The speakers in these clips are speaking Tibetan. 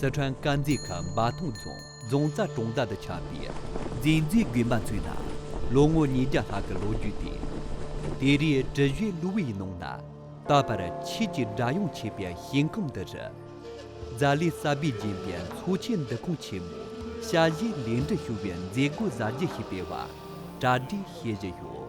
སི་ཁྲོན་དཀར་མཛེས་ཁུལ་འབའ་ཐང་རྫོང་རྫོང་རྩ་གྲོང་རྡལ་དུ་ཆགས་པའི་མཛེས་མཛེས་དགོན་པ་ཚོའི་ནང་ལོ་ངོ་ཉིས་བརྒྱ་ལྷག་གི་ལོ་རྒྱུས་ཏེ། དེ་རིང་བྲི་བཞོན་གླུ་བའི་ནང་ན་ད་བར་ཆོས་ཀྱི་སྒྲ་དབྱངས་མཆེད་པའི་ཞིང་ཁམས་འདི་རུ། རྫ་ལི་གསར་པས་བརྒྱན་པའི་མཚོ་ཆེན་འདུ་ཁང་ཆེན་མོ་ཞལ་བཞེས་ལས་འབྲས་ཞུ་བའི་མཛད་སྒོ་གཟབ་རྒྱས་ཤིག་སྤེལ་བ་གྲ་སྒྲིག་བྱེད་བཞིན་ཡོད།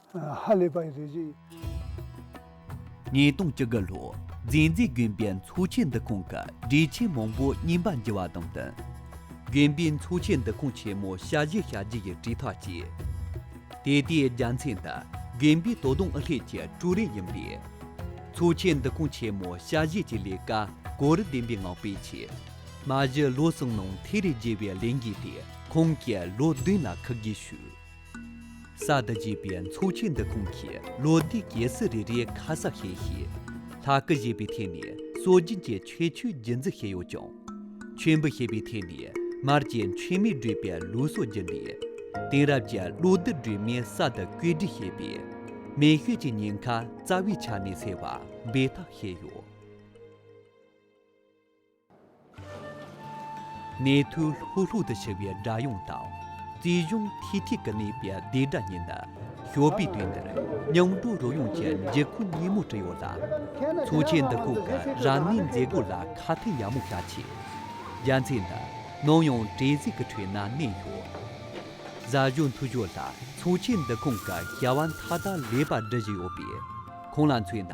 ཧ་ལས་པ་ཡི་རེད་ཅེས། ཉིས་སྟོང་བཅུ་དགུ་ལོའི་མཛེས་མཛེས་དགོན་པའི་འཚོ་བྱེད་འདུ་ཁང་གི་སྒྲིག་ཆས་མང་པོ་རྙིང་པ་འགྱུར་བ་དང་བསྟུན། དགོན་པའི་འཚོ་བྱེད་འདུ་ཁང་ཆེན་མོ་ཞལ་བཞེས་བྱ་རྒྱུ་ཡི་དྲིལ་ཐག་བཅད། དེ་ལྟའི་རྒྱ་མཚན་འདི་དགོན་པའི་དོ་དམ་ཨུ་ལྷན་གྱི་ཀྲུའུ་རེན་ཡིན་པས། འཚོ་བྱེད་འདུ་ཁང་ཆེན་མོ་ཞལ་བཞེས་ཀྱི་ལས་ཀ་གོ་རིམ་ལྡན་པའི་ངང་སྤེལ་ཆེད། མ་གཞི་ལོ་གསུམ་ནང་ཐེ་རི་རྒྱས་པའི་ལས་འགན་དེ་ཁོང་གིས་ལོ་བདུན་ལ་ཁག་བགོས་ཞུས། ས་འདི་བརྗེས་པའི་མཚོ་ཆེན་འདི་ཁོང་གིས་ལོ་ཟླའི་རྒྱལ་སྲིད་རེ་རེའི་ཁ་གསབ་བྱས་ཤིང། ལྷ་སྐུ་བཞེས་པའི་ཐད་ནས་སྲོལ་རྒྱུན་གྱི་ཆོས་ཆོས་བརྒྱུད་འཛིན་བྱས་ཡོད་ཀྱང། མཆོད་འབུལ་བྱེད་པའི་ཐད་ནས་མར་གྱི་མཆོད་མེ་སྒྲོས་པའི་ལུགས་སྲོལ་བརྒྱུད་ནས། དེང་རབས་ཀྱི་གློག་རྡུལ་སྒྲོན་མེ་ས་དང་བཀོད་སྒྲིག་བྱས་པས། མེ་ཤུལ་གྱི་ཉེན་ཁ་རྩ་བའི་ཆ་ནས་སེལ་བར་འབད་འཐབ་བྱས་ཡོད། ནས་ཐུ་ལྷུག་ལྷུག་ཏུ་འཕྱུར་བའི་སྒྲ་དབྱངས་དང། བརྩེ་གཞུང་ཐིག་ཐིག་གི་གནས་པའི་བདེ་སྒྲ་གཉིས་ནི། ཞོགས་པའི་དུས་འདིར་སྙིང་སྤྲོ་རོལ་དབྱངས་ཀྱི་འགྱིག་ཁུག་སྙན་མོ་དྲིལ་ཡོད་ལ། མཚོ་ཆེན་འདི་ཁོག་གི་རང་གནས་མཛེས་སྒོ་ལ་ཁ་ཐུག་ཡག་མོ་བྱ་ཆེད། རྒྱ་མཚན་འདི་ནམ་ཡང་བྲེལ་ཟིང་གི་ཁྲོད་ན་གནས་ཡོད། གཟའ་གཞོན་ཐུ་ཞོ་ལ་མཚོ་ཆེན་འདི་ཁོང་གི་སྐྱེ་བ་མཐའ་དག་ལེགས་པར་འབྲི་བཞིན་ཡོད་པས་ཁོང་ལ་མཚོན་ན།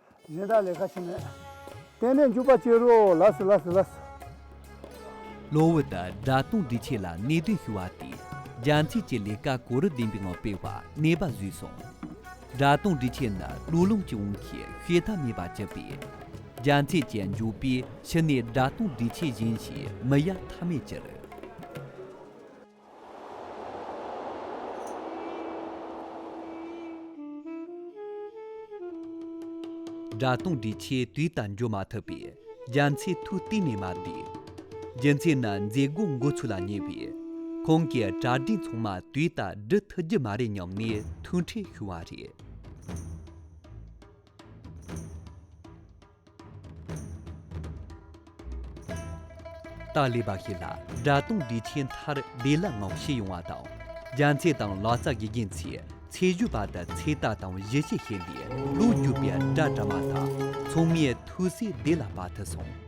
གཞན་དག་ལས་ཁ་ཕྱེ་མེད། བརྟན་ནས་འཇུག་པ་སྐྱེ་རུ་འོ་ལཱ་སུ་ལཱ་སུ་ལཱ་སུ། གློ་བུར་དུ་སྒྲ་དོན་འདྲིས་ཆེ་ལ་གནད་དོན་ཞུ་བ་དེས་རྒྱ་མཚོས་ཀྱི་ལས་ཀ་གོ་རིམ་ལྡན་པའི་ངང་སྤེལ་བར་གནས་པ་བཟོས་སོང། སྒྲ་དོན་འདྲིས་ཆེ་ནི་གླུ་ལུང་གི་དབང་གིས་ཤེས་ཐབས་མེད་པ་གཅིག་པས། རྒྱ་མཚོས་ཀྱི་འཇུག་པའི་ཕྱི་ནས་སྒྲ་དོན་འདྲིས་ཆེ་གཞན་ཞིག་མི་གཡར་ཐབས་མེད་གྱུར། སྒྲ་དང་དྲི་ཆེ་དུས་དང་འགྱུར་མ་ཐུབ་པས་རྒྱ་མཚོའི་མཐུ་གཏིང་ནས་མ་བསྡུས། རྒྱུ་མཚན་ནི་མཛད་སྒོ་འགོ་ཚུགས་ལ་ཉེ་བས། ཁོང་གི་གྲ་སྒྲིག་ཚང་མ་དུས་ལྟར་སྒྲུབ་ཐུབ་རྒྱུ་མ་རེད་སྙམ་ནས་ཐུགས་ཁྲལ་ཞུ་བ་རེད། ཏཱ་ལའི་བ་ཤི་ལ་དགྲ་གཏོང་སྒྲིག་ཆས་མཐར་བདེ་ལ་ངང་ཕྱི་ཡོང་བ་དང་རྒྱ་མཚེས་དང་ལ་ཙྪ་དགེ་རྒན་ཚོས་ཚད་གཞི་བ་དང་ཚེ་ཏཱ་དང་བཞི་ཞེས་བཤད་པའི་གླུ་བརྒྱུད་པའི་སྒྲ་གྲ་མ་དང་མཚུངས་མེད་ཐུགས་སྲས་བདེ་ལ་བ་དྷི་སོང།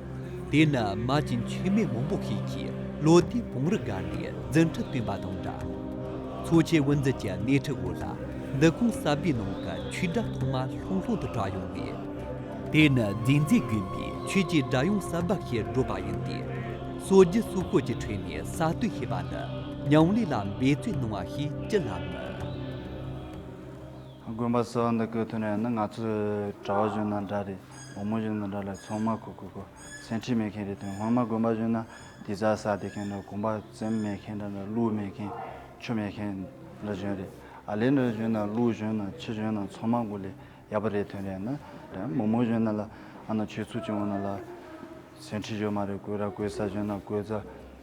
དེས་ན་མ་ཅིན་ཆོས་མེད་མོང་པོ་ཤེས་ཀྱིས་བློ་བདེའི་བུང་རི་སྒར་ནས་རྫུན་ཁྲི་བཏོན་པ་དང་འདྲ། འཚོ་བྱེད་དབུ་འཛིན་གྱི་སྣེ་ཁྲིད་འོག་ལ་འདི་ཁོང་གསར་པའི་ནང་གི་ཆོས་གྲྭ་ཐོག་མ་ལྷུང་ལྷུང་དུ་གྲགས་ཡོང་བས། དེ་ནི་རྫས་འཛིན་དགོན་པའི་ཆོས་ཀྱི་སྒྲ་དབྱངས་གསར་པ་ཞེས་བསྒྲུབས་པ་ཡིན་ཏེ། སོ་བརྒྱུད་སོ་བཀོད་ཀྱི་ཁྲོད་ནས་གསར་གཏོད་བྱས་པ་ནི་ཉང་ལེ་ལ་འབད་བརྩོད་གནང་བ་ཞིག་ཅི་ལ་མིན། དགོན་པ་གསར་བ་འདི་བཀོད་ཐུབ་ནས་ནི་ང་ཚོའི་གྲྭ་བ་གཞོན་ནུ་འདྲ་རེ་བུ་མོ་གཞོན་ནུ་འདྲ་ལ་ཚོང་མ་ཁུ་ཁུ་ཁུ་སེང་ཁྲི་མེད་མཁན་རེད་དོན་ངོ་མ་དགོན་པ་གཞོན་ན་དེ་ཟ་ཟ་བསྡད་མཁན་འདྲ་གོམ་པ་བཙེམ་མེད་མཁན་འདྲ་གླུ་མེད་མཁན་ཆུ་མེད་མཁན་འདྲ་གཞོན་རེད་ཨ་ལེ་འདྲ་གཞོན་ན་གླུ་གཞོན་ན་ཆུ་གཞོན་ན་ཚོང་མ་དགུ་ལས་ཡག་པ་རེད་དོན་རེད་ཨ་ན་འདྲ་བུ་མོ་གཞོན་ན་ལ་ཨ་ན་ཆོས་ཚུགས་ཀྱི་འོ་ན་ལ་སེང་ཁྲི་གཞོན་མ་རེད་གོས་ར་གོས་ས་གཞོན་ན་གོས་རྫ་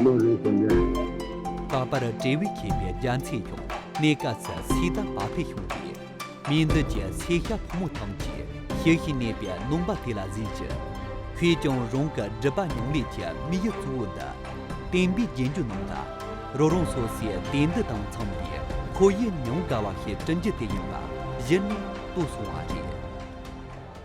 བློ་རིག་དོན་ལྡན། ལྷག་པར་འབྲས་བུ་མཁྱེན་པའི་རྒྱ་མཚན་ཡང་གནས་སྐབས་སུ་ཚིག་དང་བ་ཕས་ཤོང་སྟེ། མིང་འདི་ཀྱི་ཚེག་ཞྭ་ཕོ་མོ་ཐམས་ཅད་ཤེར་ཞིང་གནས་པའི་ནོངས་པ་དེ་ལ་གཟིགས་ཀྱི། ཁོས་ཀྱང་རང་གི་སྒྲིབ་པ་མྱོང་ལས་ཀྱི་མིག་ཡུལ་གཙོ་བོ་འདི། བསྟན་པའི་རྒྱན་གྱུར་སྣང་ལ། རོ་རང་སོ་སོའི་དེ་འདི་དང་མཚུངས་པའི་ཁོ་ཡི་མྱོང་དགའ་བ་ཞེས་བྲི་རྒྱུ་དེ་ཡིན་པ་གཞི་ནས་རྟོགས་སོང་བ་རེད།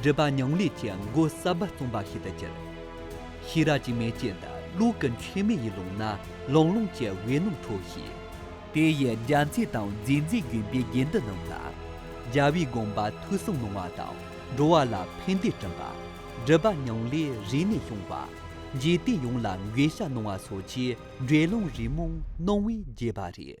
སྒྲིབ་པ་མྱང་ལས་ཀྱི་མགོ་ས་བ་བཙོང་པ་ཞིག་ཏུ་གྱུར། ཤེས་རབ་ཀྱི་མེ་ལྕེ་འདི་ཀླུ་ཀུན་མཁྱེན་མའི་ཡིད་ཀློང་ན་ལང་ལོང་གི་འོད་སྣང་འཕྲོ་ཞིང། དེ་ཡི་རྒྱ་མཚོའི་དང་མཛེས་མཛེས་གྱོན་པའི་དགེ་འདུན་རྣམས་ལ། རྒྱལ་བའི་དགོངས་པ་ཐོས་བསམ་གནང་བ་དང་འགྲོ་བ་ལ་ཕན་བདེ་སྐྲུན་པ། སྒྲིབ་པ་མྱང་ལས་རིག་ནས་སྐྱོང་བ། འཇིག་རྟེན་ཡོངས་ལ་འགེལ་བཤགས་གནང་བ་སོགས་ཀྱི་འགྲེལ་ལུང་རིན་མོང་གནང་བས་རྒྱས་པ་རེད།